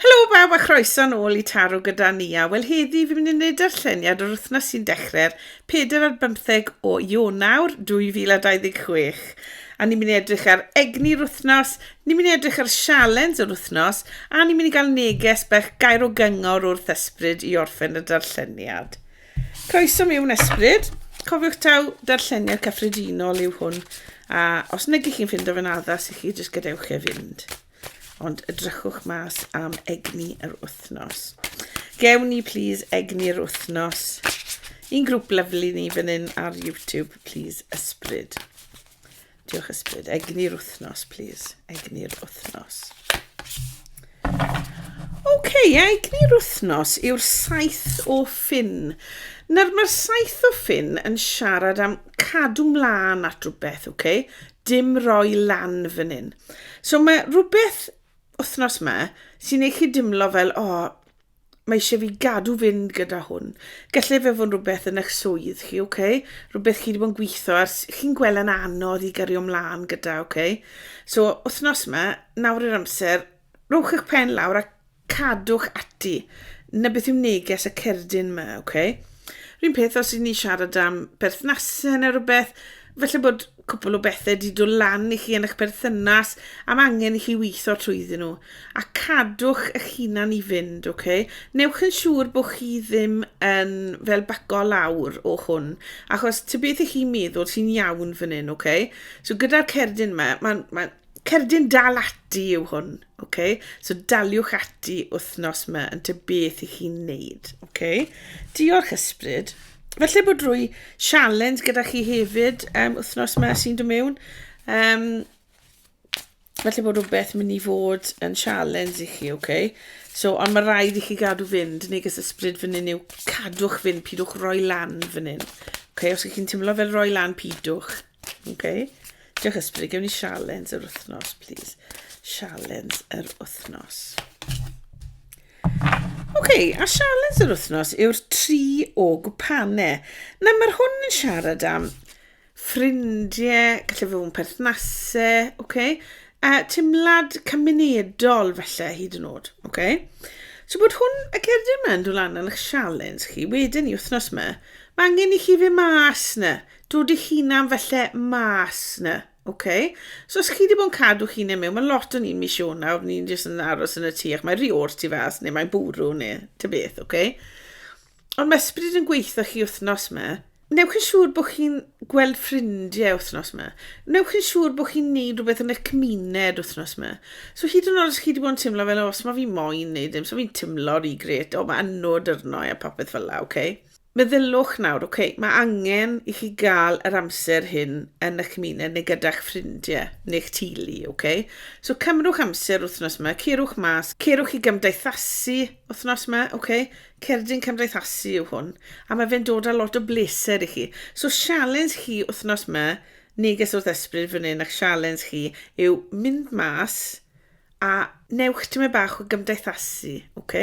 Helo bawb a chroeso'n ôl i Taro gyda Nia. Wel heddi fi'n mynd i wneud darlleniad o'r wythnos sy'n dechrau'r 4 ar bymtheg o Ionawr 2026. A ni'n mynd i edrych ar egni'r wythnos, ni'n mynd i edrych ar sialens yr wythnos a ni'n mynd i gael neges bach gair o gyngor wrth ysbryd i orffen y darlleniad. Croeso mewn ysbryd. Cofiwch taw darlleniad cyffredinol yw hwn a os nag ych chi'n ffindo fe'n addas i chi jyst gadewch e fynd. Ond edrychwch mas am egni yr wythnos. Gewn ni, please, egni yr wythnos. Un grŵp lyflu ni fan hyn ar YouTube, please, ysbryd. Diolch ysbryd. Egni'r wythnos, please. Egni'r wythnos. Oce, okay, egni'r wythnos yw'r saith o ffin. Nawr, mae'r saith o ffin yn siarad am cadw mlaen at rhywbeth, oce? Okay? dim roi lan fan hyn. So mae rhywbeth wythnos ma sy'n ei chi dimlo fel, o, oh, mae eisiau fi gadw fynd gyda hwn. Gallai fe fod rhywbeth yn eich swydd chi, oce? Okay? Rhywbeth chi wedi bod yn gweithio ar, chi'n gweld yn anodd i gario ymlaen gyda, oce? Okay? So, wythnos ma, nawr yr amser, Rhowch eich pen lawr a cadwch ati. Na beth yw neges y cerdyn yma, oce? Okay? Rhyn peth os ydyn ni siarad am berthnasau neu rhywbeth, felly bod cwpl o bethau wedi dod lan i chi yn eich perthynas am angen i chi weithio trwyddyn nhw. A cadwch eich hunan i fynd, oce? Okay? Newch yn siŵr bod chi ddim yn fel baco lawr o hwn, achos ty beth ych chi'n meddwl sy'n iawn fan hyn, oce? Okay? So gyda'r cerdyn yma, mae'n ma Cerdyn dal ati yw hwn, oce? So daliwch ati wythnos ma yn ty beth i chi'n neud, oce? Diolch ysbryd. Felly bod rwy sialens gyda chi hefyd um, wythnos ma sy'n dod mewn. Um, felly bod rhywbeth mynd i fod yn sialens i chi, oce? So, ond mae rhaid i chi gadw fynd, neges ysbryd fan hyn yw cadwch fynd, pidwch roi lan fan hyn. Oce, os ych chi'n teimlo fel roi lan, pidwch. Ok, diolch Ysbryd. Gewn ni sialens yr wythnos, please. Sialens yr wythnos. Ok, a sialens yr wythnos yw'r tri o gwpane. Na, mae'r hwn yn siarad am ffrindiau, gallu fod yn perthnasau, ok? A timlad cymunedol felly hyd yn oed, ok? So bod hwn, y cerdyn yma yn dod lan yn eich sialens chi, wedyn i wythnos yma, mae angen i chi fe mas na. Dod dy hunan falle mas na, oce? So os chi wedi bod yn cadw hunan mewn, mae lot o'n un mis o nawr, ni'n jyst yn aros yn y tu, ac mae rhi o'r tu fas, neu mae'n bwrw, neu ty beth, oce? Ond mae ysbryd yn gweithio chi wythnos yma. Newch yn siŵr bod chi'n gweld ffrindiau wythnos yma. Newch yn siŵr bod chi'n neud rhywbeth yn y cymuned wythnos yma. So hyd yn oed os chi wedi bod yn teimlo fel, os mae fi moyn neud dim, so fi'n teimlo rhi gret, o mae anod arno a popeth fel la, oce? Okay? Meddyliwch nawr, ok, mae angen i chi gael yr amser hyn yn y cymuned neu gyda'ch ffrindiau neu'ch teulu, ok? So cymrwch amser wythnos yma, cerwch mas, cerwch i gymdeithasu wythnos yma, ok? Cerdyn cymdeithasu yw hwn, a mae fe'n dod â lot o bleser i chi. So sialens chi wythnos yma, neges wrth ysbryd fan hyn a'ch sialens chi yw mynd mas, A newch tymed bach o gymdeithasu, ok?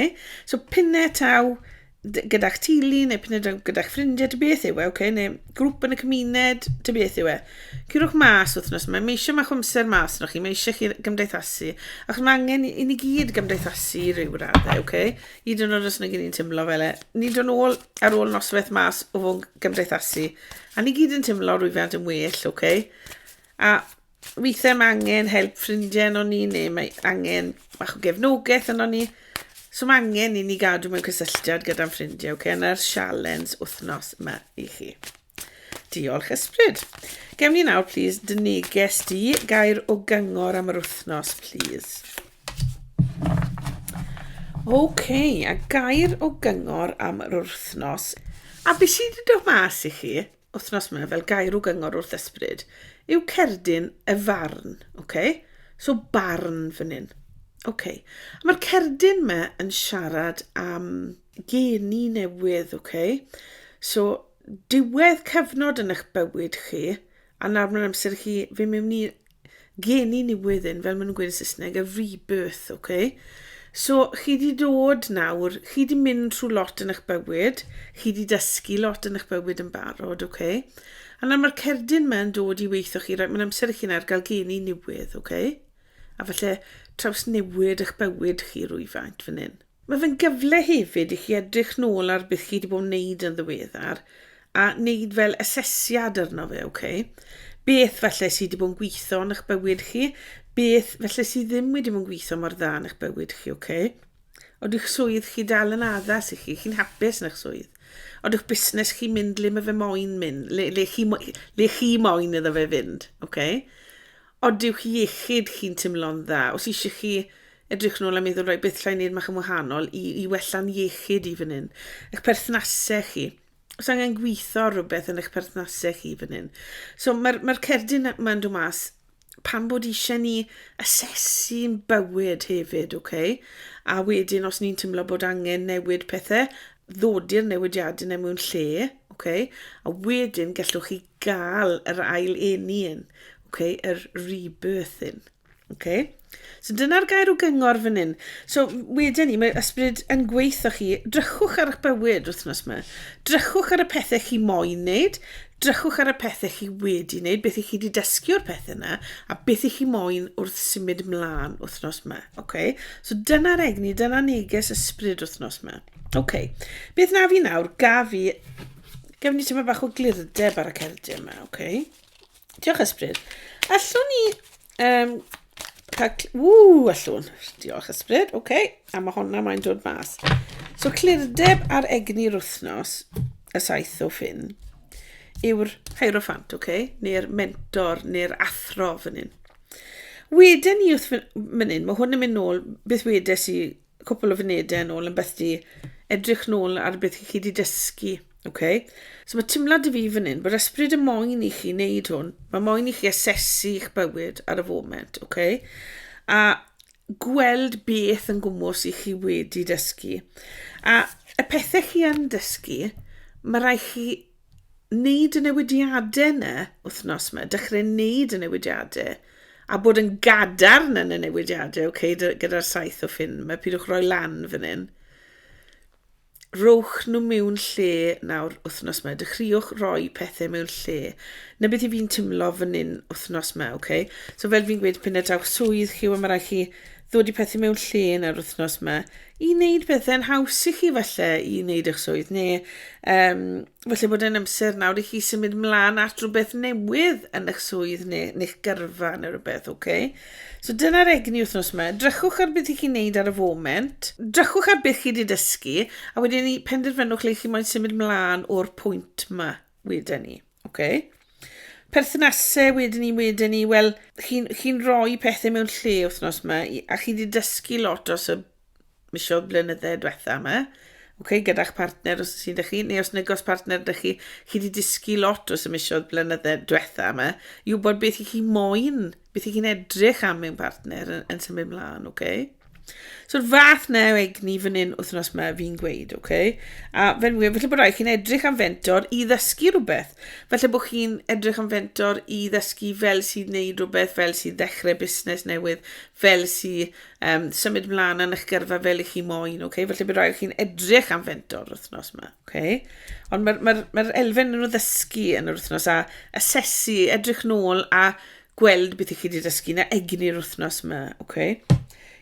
So pinne taw gyda'ch tili neu pinne taw gyda'ch ffrindiau, ty beth yw e, ok? Neu grŵp yn y cymuned, ty beth yw e? Cyrwch mas wythnos yma, mae eisiau mach o amser mas yno chi, mae eisiau chi gymdeithasu. Achos mae angen i ni gyd gymdeithasu i ryw raddau, ok? Hyd yn oed os nag ni'n teimlo fel e. Ni'n dod nôl ar ôl noswaith mas o fod gymdeithasu. A ni gyd yn teimlo rwyfant yn well, ok? A Weithiau mae angen help ffrindiau yno ni, neu mae angen bach o gefnogaeth yno ni. So mae angen i ni gadw mewn cysylltiad gyda'n ffrindiau, okay? Yna'r sialens wythnos yma i chi. Diolch ysbryd. Gewn ni nawr, please, dy neges di, gair o gyngor am yr wythnos, please. Okay, a gair o gyngor am yr wythnos. A beth sydd wedi dod mas i chi? Wythnos 'ma, fel gair o gyngor wrth ysbryd, yw cerdyn y farn, ok? So barn fan hyn. Ok. A mae'r cerdyn 'ma yn siarad am geni newydd, ok? So diwedd cyfnod yn eich bywyd chi, a nawr mae'n amser i chi fy' mewn i geni newyddyn, fel maen nhw'n gweud yn Saesneg, a rebirth, oce? Okay? So, chi di dod nawr, chi di mynd trwy lot yn eich bywyd, chi di dysgu lot yn eich bywyd yn barod, oce? Okay? A nawr mae'r cerdyn yma yn dod i weithio chi, right? mae'n amser i chi'n ar gael geni newydd, oce? Okay? A falle traws newid eich bywyd chi rwyfaint fan hyn. Mae fe'n gyfle hefyd i chi edrych nôl ar beth chi wedi bod yn wneud yn ddiweddar a wneud fel asesiad arno fe, ok? Beth felly sydd wedi bod yn gweithio yn eich bywyd chi? Beth felly sydd ddim wedi bod yn gweithio mor dda yn eich bywyd chi, ok? Oedych swydd chi dal yn addas i chi, chi'n hapus yn eich swydd. Oedych busnes chi mynd le mae fe moyn mynd, le, le, chi, le chi moyn iddo fe fynd, ok? Ond yw'ch iechyd chi'n timlo'n dda? Os eisiau chi edrych nôl a meddwl, rhaid beth llai wneud mach yn wahanol i, i wella'n iechyd i fan hyn. Eich perthnasau chi. Os angen gweithio rhywbeth yn eich perthnasau chi fan hyn. So mae'r mae cerdyn mae'n dod mas pan bod eisiau ni asesu'n bywyd hefyd, okay? A wedyn os ni'n teimlo bod angen newid pethau, ddod i'r newidiadau neu mewn lle, okay? a wedyn gallwch chi gael yr ail eni yn, okay, yr rebirth yn. Okay? So dyna'r gair o gyngor fan hyn. So wedyn ni, mae ysbryd yn gweithio chi, drychwch ar eich bywyd wythnos yma. Drychwch ar y pethau chi moyn wneud, drychwch ar y pethau chi wedi wneud, beth i chi wedi dysgu o'r pethau yna, a beth i chi moyn wrth symud mlaen wythnos yma. Okay? So dyna'r egni, dyna neges ysbryd wythnos yma. Okay. Beth na fi nawr, gaf fi Gaf ni tyma bach o glirdeb ar y cerdiau yma, oce. Okay. Diolch ysbryd. Allwn ni... Um, cael... Ww, allwn. Diolch ysbryd, oce. Okay. A mae honna mae'n dod mas. So, clirdeb ar egni'r wythnos, y saith o ffyn, yw'r hierophant, oce, okay? neu'r mentor, neu'r athro fan hyn. Wedyn ni wrth fan hyn, mae hwn yn mynd nôl, beth wedes i cwpl o funudau yn ôl yn beth di edrych nôl ar beth i chi di dysgu. Okay? So mae timlad i fi fan hyn, bod ysbryd y moyn i chi wneud hwn, mae moyn i chi asesu eich bywyd ar y foment, okay? a gweld beth yn gwmwys i chi wedi dysgu. A y pethau chi yn dysgu, mae rai chi wneud y newidiadau yna wythnos yma, dechrau wneud y newidiadau, a bod yn gadarn yn y newidiadau, oce, okay, gyda'r saith o ffyn yma, pidwch roi lan fan hyn. Rowch nhw mewn lle nawr wythnos yma, dechreuwch roi pethau mewn lle. Na beth i fi'n timlo fan hyn wythnos yma, oce? Okay? So fel fi'n gweud, pyn y daw swydd chi, mae rhaid chi ddod i pethau mewn lle nawr wythnos yma, i wneud pethau'n haws i chi falle i wneud eich swydd neu um, falle bod e'n amser nawr i chi symud mlaen at rhywbeth newydd yn eich swydd neu yn eich gyrfa neu rhywbeth, oce? Okay? So dyna'r egni wythnos yma. Drychwch ar beth i chi'n neud ar y foment, drychwch ar beth chi wedi dysgu a wedyn ni penderfynwch le chi moyn symud mlaen o'r pwynt yma wedyn ni. Oce. Perthnasau wedyn ni, wedyn ni, wel, chi'n chi rhoi pethau mewn lle wythnos yma, a chi wedi dysgu lot os y misiodd blynyddau diwetha yma, okay, gyda'ch partner os sy'n dych chi, neu os negos partner dych chi, chi wedi dysgu lot os y misiodd blynyddau diwetha yma, i wybod beth i chi moyn wneud beth i chi'n edrych am mewn partner yn, yn symud mlaen, oce? Okay? So'r fath na egni fan hyn wythnos yma fi'n gweud, oce? Okay? A fe'n wir, felly bod rhaid chi'n edrych am fentor i ddysgu rhywbeth. Felly bod chi'n edrych am fentor i ddysgu fel sy'n neud rhywbeth, fel sy'n ddechrau busnes newydd, fel sy'n um, symud mlaen yn eich gyrfa fel i chi moyn, oce? Okay? Felly bod rhaid chi'n edrych am fentor wythnos yma. Okay. Ond mae'r ma ma elfen yn o ddysgu yn yr wythnos a asesu, edrych nôl a gweld beth i chi wedi dysgu na egni'r wythnos yma. Okay.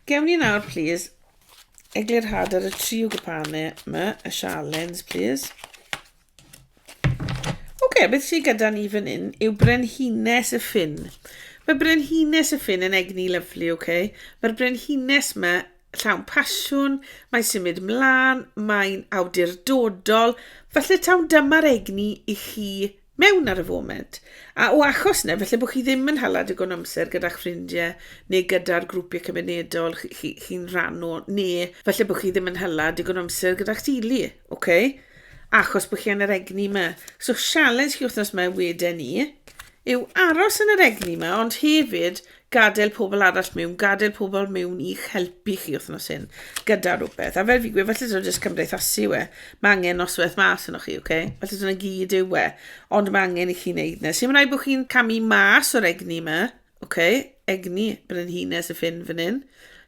Gewn ni nawr, please, eglurhad ar y tri o gwpane yma, y sialens, please. OK, beth sy'n gyda ni fan hyn yw brenhines y ffin. Mae brenhines y ffin yn egni lyflu, OK? Mae'r brenhines yma llawn pasiwn, mae'n symud mlaen, mae'n awdurdodol, falle tawn dyma'r egni i chi mewn ar y foment. A o achos yna, felly bod chi ddim yn hala digon amser gyda'ch ffrindiau neu gyda'r grwpiau cymunedol chi'n chi, chi, chi rhan o, neu felly bod chi ddim yn hala digon amser gyda'ch dili, oce? Okay? Achos bod chi yn yr egni yma. So, sialens chi wythnos yma wedyn ni yw aros yn yr egni yma, ond hefyd gadael pobl arall mewn, gadael pobl mewn i'ch helpu chi wythnos hyn gyda rhywbeth. A fel fi gwe, falle dod jyst cymdeithasu we. Mae angen noswaith mas yno chi, oce? Okay? Falle dyna gyd yw we. Ond mae angen i chi wneud nes. Si'n rhaid bod chi'n camu mas o'r egni yma, oce? Okay? Egni, brenhines y ffyn fan hyn.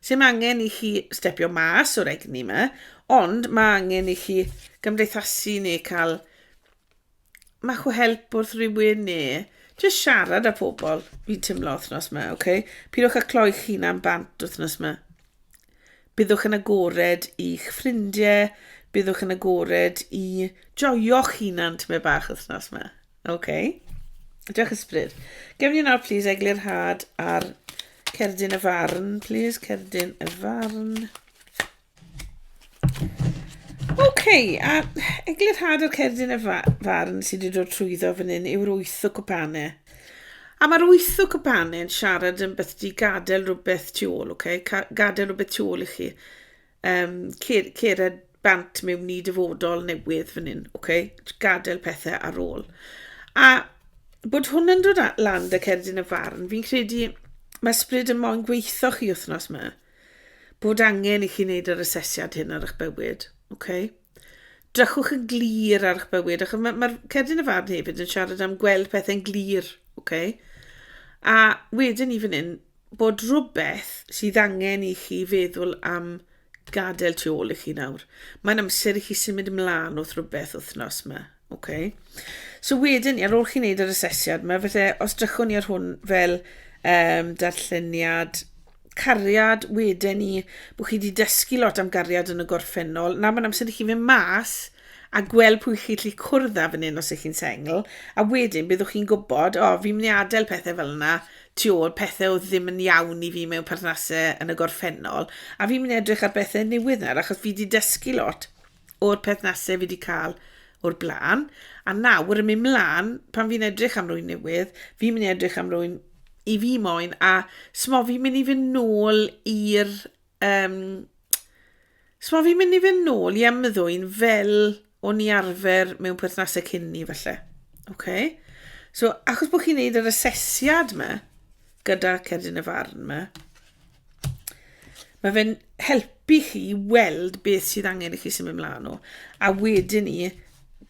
Si'n angen i chi stepio mas o'r egni yma, ond mae angen i chi gymdeithasu neu cael Mae chw help wrth rhywun ne jyst siarad â pobl fi'n teimlo wythnos yma, oce? Okay? Pidwch â cloi'ch hunan bant wythnos yma. Byddwch yn agored i'ch ffrindiau, byddwch yn agored i joio'ch hunan tymed bach wythnos yma. Oce? Okay? Diolch ysbryd. Gewn ni nawr, please, eglurhad ar cerdyn y farn, please, cerdyn y farn. Oce, a Eglurhad yr Cerdyn y Farn sydd wedi dod trwyddo fan hyn yw'r wyth o cwpane. A mae'r wyth o cwpane yn siarad yn beth di gadael rhywbeth tu ôl, oce? Gadael rhywbeth tu ôl i chi. Um, cer, cered bant mewn i dyfodol newydd fan hyn, oce? Gadael pethau ar ôl. A bod hwn yn dod lan dy cerdyn y farn, fi'n credu mae ysbryd yn moyn gweithio chi wythnos yma. bod angen i chi wneud yr asesiad hyn ar eich bywyd. Okay? Drychwch yn glir ar eich bywyd, achos mae'r ma, cerdyn y farn hefyd yn siarad am gweld pethau'n glir. Okay? A wedyn i fan hyn, bod rhywbeth sydd angen i chi feddwl am gadael tu ôl i chi nawr. Mae'n amser i chi symud ymlaen wrth rhywbeth wythnos yma. Ok. So wedyn, ar ôl chi wneud yr asesiad mae falle, os drychwn ni ar hwn fel um, darlleniad cariad, wedyn ni, bod chi wedi dysgu lot am gariad yn y gorffennol, na mae'n amser i chi fynd mas a gweld pwy chi lli cwrdd â fan hyn os ych chi'n sengl, a wedyn byddwch chi'n gwybod, o, fi'n mynd i adael pethau fel yna, tu ôl pethau oedd ddim yn iawn i fi mewn perthnasau yn y gorffennol, a fi'n mynd i edrych ar bethau newydd nawr, achos fi wedi dysgu lot. o'r perthnasau fi wedi cael o'r blaen, a nawr yn mynd mlaen, pan fi'n edrych am rwy'n newydd, fi'n mynd i edrych am rwy'n i fi moyn, a smo fi'n mynd i fynd nôl i'r... Um, smo fi'n mynd i fynd nôl i ymddwyn fel o'n i arfer mewn perthnasau cyn ni, felly. Okay? So, achos bod chi'n neud yr asesiad yma, gyda cerdyn y farn yma, Mae fe'n helpu chi i weld beth sydd angen i chi symud ymlaen o. A wedyn ni,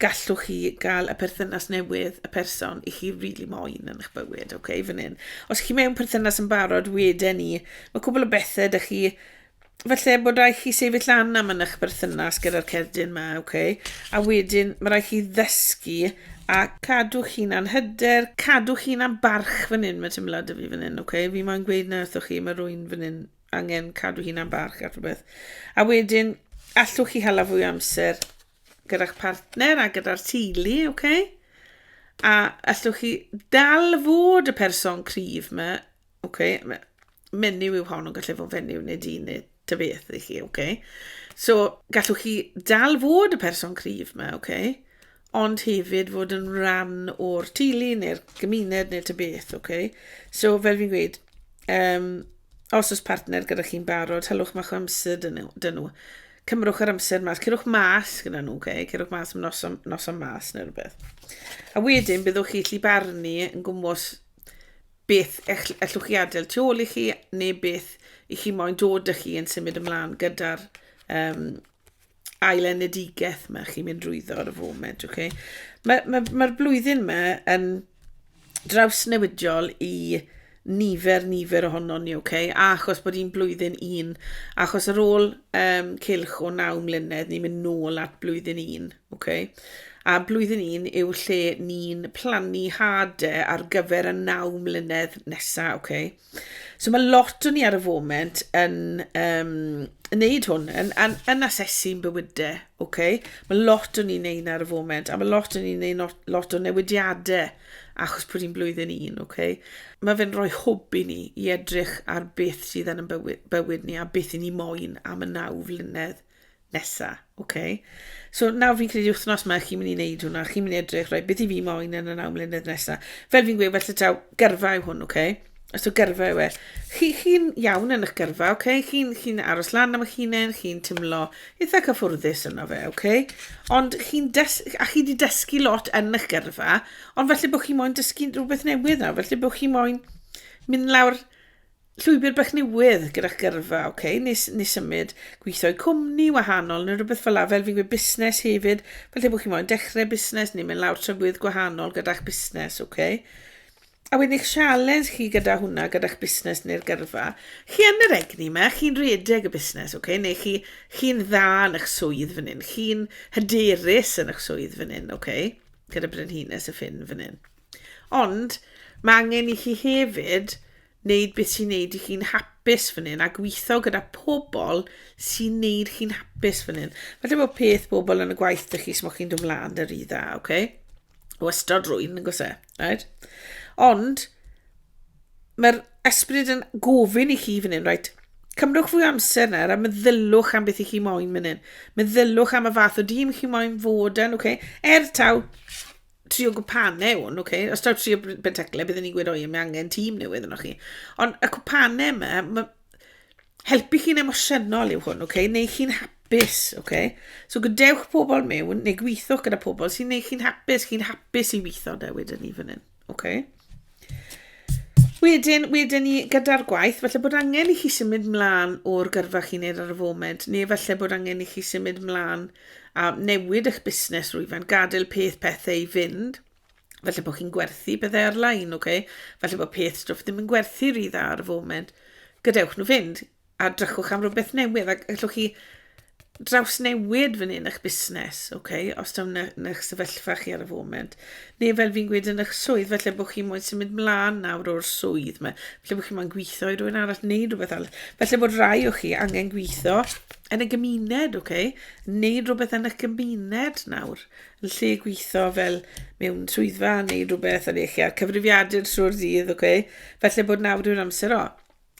gallwch chi gael y perthynas newydd, y person i chi rili really moyn yn eich bywyd, oce, okay, fan hyn. Os chi mewn perthynas yn barod, wedyn ni, mae cwbl o bethau da chi falle bod rhaid chi sefyll lan am yn eich berthynas gyda'r cerdyn yma, oce? Okay? A wedyn, mae rhaid chi ddysgu A cadw chi'n anhyder, cadw chi'n ambarch fan hyn, mae teimlad y fi fan hyn, ok? Fi moyn gweud na wrthoch chi, mae rwy'n fan hyn angen cadw hi'n ambarch ar rhywbeth. A wedyn, allwch chi hala fwy amser gyda'ch partner a gyda'r teulu, ok? A allwch chi dal fod y person cryf yma Oce, me- menyw yw hon, ond gallai fod fenyw neu dyn neu ta beth i chi, oce. So, gallwch chi dal fod y person cryf yma, oce, ond hefyd fod yn rhan o'r teulu neu'r gymuned neu ta beth, oce. So, fel fi'n gweud, um, os oes partner gyda chi'n barod, hylwch mach o amser dyn nhw. Dyn nhw. Cymrwch yr amser mas, cyrwch mas gyda nhw, oce, cyrwch mas am noson, noson mas neu rhywbeth. A wedyn, byddwch chi allu barnu yn gwmwys Beth ellwch chi adael tu ôl i chi neu beth i chi moyn dod â chi yn symud ymlaen gyda'r um, ail enedigaeth mae chi'n mynd drwyddo ar y foment. Okay? Mae'r ma, ma, ma blwyddyn yma yn draws newidiol i nifer, nifer ohono ni, okay? a achos bod hi'n blwyddyn un, achos ar ôl um, cilch o naw mlynedd, ni'n mynd nôl at blwyddyn un. Ok. A blwyddyn un yw lle ni'n plannu hade ar gyfer y naw mlynedd nesaf, ok. So mae lot o ni ar y foment yn um, yn neud hwn, yn, yn, yn asesu'n bywydau, ok. Mae lot o ni'n neud ar y foment, a mae lot o ni'n neud lot o newidiadau achos bod hi'n blwyddyn un, ok. Mae fe'n rhoi hwb i ni i edrych ar beth sydd yn bywyd, bywyd ni a beth i ni moyn am y naw flynedd nesa, ok. So nawr fi'n credu wythnos yma chi'n mynd i wneud hwnna, chi'n mynd i edrych, rhaid, beth i fi moyn yn y naw mlynedd nesa. Fel fi'n gweud, felly taw gyrfa yw hwn, ok? Os yw gyrfa yw e. Chi, chi'n iawn yn eich gyrfa, ok? Chi'n chi aros lan am eich hunain, chi'n tymlo eitha cyffwrddus yno fe, ok? Ond chi'n des... A chi wedi dysgu lot yn eich gyrfa, ond felly bod chi moyn dysgu rhywbeth newydd nawr, felly bod chi moyn mynd lawr Llwybr bach newydd gyda gyrfa, oce, okay, nes, nes symud, gweithio i cwmni wahanol neu rhywbeth fel la, fel fi'n gweud busnes hefyd, fel lle bod chi'n moyn dechrau busnes neu mynd lawr trafwydd gwahanol gyda'ch busnes, oce. Okay? A wedyn eich sialens chi gyda hwnna, gyda'ch busnes neu'r gyrfa. Chi yn yr egni yma, chi'n redeg y busnes, okay? neu chi, chi'n dda yn eich swydd fan hyn, chi'n hyderus yn eich swydd fan hyn, okay? gyda brenhines y ffin fan hyn. Ond mae angen i chi hefyd Wneud beth sy'n neud i chi'n hapus fan hyn a gweithio gyda pobl sy'n neud chi'n hapus fan hyn. Falle bod peth bobl yn y gwaith dych chi smoch chi'n dod mlaen yr un dda, oce? Okay? Wastad rwy'n yn gwse, right? Ond, mae'r ysbryd yn gofyn i chi fan hyn, right? Cymrwch fwy amser nawr a meddylwch am beth i chi moyn fan hyn. Meddylwch am y fath o dîm chi moyn fod yn, okay? Er taw, trio gwpane hwn, ok? Os taw trio benteclau, byddwn ni'n gweud, o ie, mae angen tîm newydd yno chi. Ond y cwpane yma, ma, helpu chi'n emosiynol yw hwn, ok? Neu chi'n hapus, ok? So gadewch pobl mewn, neu gweithwch gyda pobl sy'n neu chi'n hapus, chi'n hapus i weithio da wedyn ni fan hyn, ok? Wedyn, wedyn ni gyda'r gwaith, felly bod angen i chi symud mlaen o'r gyrfa chi'n neud ar y foment, neu felly bod angen i chi symud mlaen a newid eich busnes rwyfan, gadael peth pethau i fynd, felly bod chi'n gwerthu pethau ar-lein, okay? felly bod peth stwff ddim yn gwerthu rhy dda ar y foment, gadewch nhw fynd, a drychwch am rhywbeth newydd ac allwch chi drawsnewid fan hyn eich busnes, okay, os tawn yn eich sefyllfa chi ar y foment. Neu fel fi'n gweud yn eich swydd, felly bod chi moyn symud mlaen nawr o'r swydd yma, felly bod chi moyn gweithio i rhywun arall neu rhywbeth arall. Felly bod rai o chi angen gweithio yn y gymuned, okay, neu rhywbeth yn eich gymuned nawr. Yn lle gweithio fel mewn swyddfa neu rhywbeth yn eich ar cyfrifiadur trwy'r dydd, okay. Felly bod nawr yw'r amser o.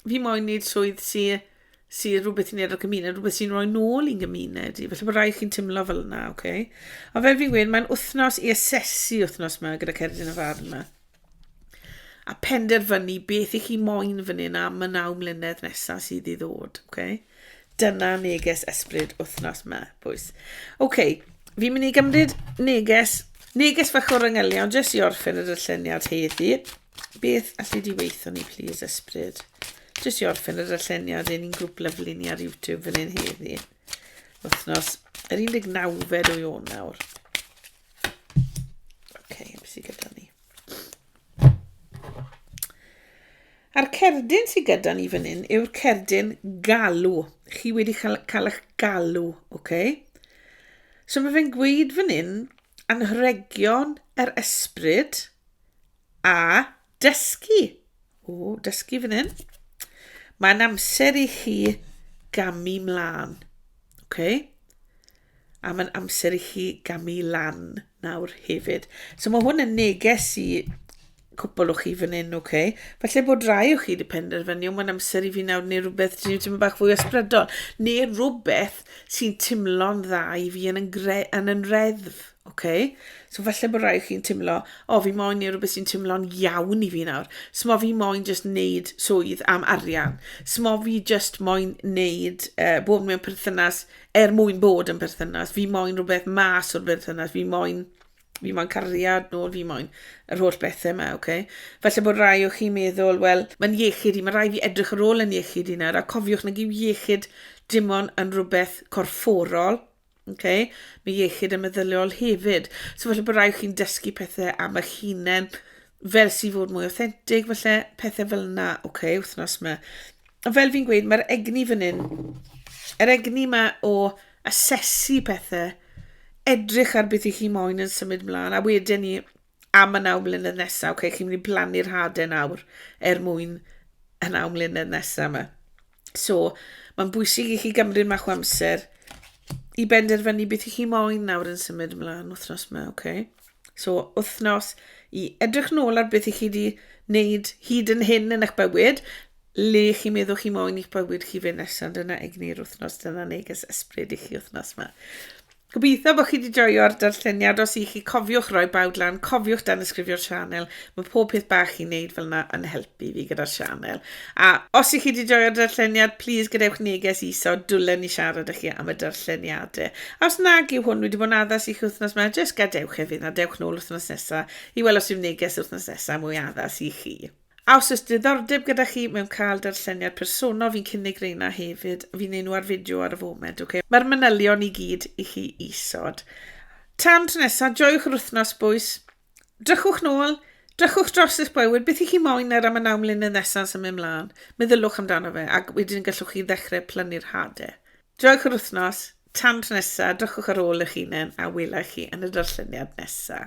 fi moyn wneud swydd sy sy rhywbeth i wneud â'r gymuned, rhywbeth sy'n rhoi nôl i'n gymuned i. Felly bod rai chi'n teimlo fel yna, oce? Okay? A fel fi'n gweud, mae'n wythnos i asesu wythnos yma gyda Cerdyn y Farn yma. A penderfynu beth i chi moyn fan hyn am y naw mlynedd nesaf sydd i ddod, oce? Okay? Dyna neges ysbryd wythnos yma, bwys. Oce, okay, fi'n mynd i gymryd neges, neges fach o'r yngylion, jyst i orffen y dylleniad heddi. Beth alli di weithio ni plîs ysbryd? Jyst i orffen y darlleniad ein grŵp lyfli ni ar YouTube fan hyn heddi. Wythnos yr 19fed o Ionawr. Oce, okay, beth sydd gyda ni? A'r cerdyn sydd gyda ni fan hyn yw'r cerdyn galw. Chi wedi cael, cael eich galw, oce? Okay? So mae fe'n gweud fan hyn, anrhegion yr ysbryd, A dysgu. O, dysgu fan hyn. Mae'n amser i chi gamu mlaen. Okay? A mae'n amser i chi gamu lan nawr hefyd. So mae hwn yn neges i cwpl o chi fan hyn, oce? Okay? Felly bod rai o chi wedi penderfynu, mae'n amser i fi nawr neu rhywbeth sy'n teimlo bach fwy ysbrydol, neu rhywbeth sy'n teimlo'n dda i fi yn yn, gre, yn yn reddf, Ok, so falle bod rhaid chi'n timlo, o fi moyn neu rhywbeth sy'n timlo'n iawn i fi nawr. Smo fi moyn just neud swydd am arian. Smo fi just moyn neud, uh, bod mewn perthynas er mwyn bod yn perthynas. Fi moyn rhywbeth mas o'r perthynas. Fi moyn, fi moyn cariad nôl, fi moyn yr holl bethau yma, oce? Okay? Felly bod rai o chi'n meddwl, wel, mae'n iechyd i, mae rai fi edrych ar ôl yn iechyd i nawr, a cofiwch nag yw iechyd dim ond yn rhywbeth corfforol, Okay? Mae iechyd y meddyliol hefyd. So felly bod rhaid chi'n dysgu pethau am eich hunain, fel sy'n fod mwy authentic, felly pethau fel yna, oce, okay, wythnos yma. A fel fi'n gweud, mae'r egni fan hyn, yr egni yma o asesu pethau, edrych ar beth i chi moyn yn symud mlaen, a wedyn ni am y naw mlynedd nesaf, oce, okay, chi'n mynd i blannu'r hadau nawr er mwyn y naw mlynedd nesaf yma. So, mae'n bwysig i chi gymryd mach o amser i benderfynu beth i chi moyn nawr yn symud ymlaen wythnos yma, oce? Okay? So, wythnos i edrych nôl ar beth i chi wedi wneud hyd yn hyn yn eich bywyd, le chi meddwl chi moyn i'ch bywyd chi fe nesaf, dyna egni'r wythnos, dyna neges ysbryd i chi wythnos yma. Gobeithio bod chi wedi joio'r darlleniad, os i chi cofiwch roi bawd lan, cofiwch danysgrifio'r sianel, mae pob peth bach chi'n neud fel yna yn helpu fi gyda'r sianel. A os i chi wedi joio'r darlleniad, plîs gadewch neges iso, dwlen ni siarad â chi am y darlleniadau. A os nag yw hwn wedi bod yn addas i chi wythnos yma, jyst gadewch e fynd a dewch nôl wythnos nesaf i weld os yw'r neges wythnos nesaf mwy addas i chi. A os oes diddordeb gyda chi mewn cael darlleniad personol fi'n cynnig reina hefyd, fi'n neud nhw ar fideo ar y foment ok. Mae'r manylion i gyd i chi isod. Tan tro nesa, joiwch yr wythnos bwys. Drychwch nôl, drychwch dros eich bywyd, beth i chi moyn er am y naw mlynedd nesa yn symud mlan. Meddyliwch amdano fe ac wedyn gallwch chi ddechrau plannu'r hade. Joiwch yr wythnos, tan tro nesa, drychwch ar ôl eich hunen a wela i chi yn y darlleniad nesa.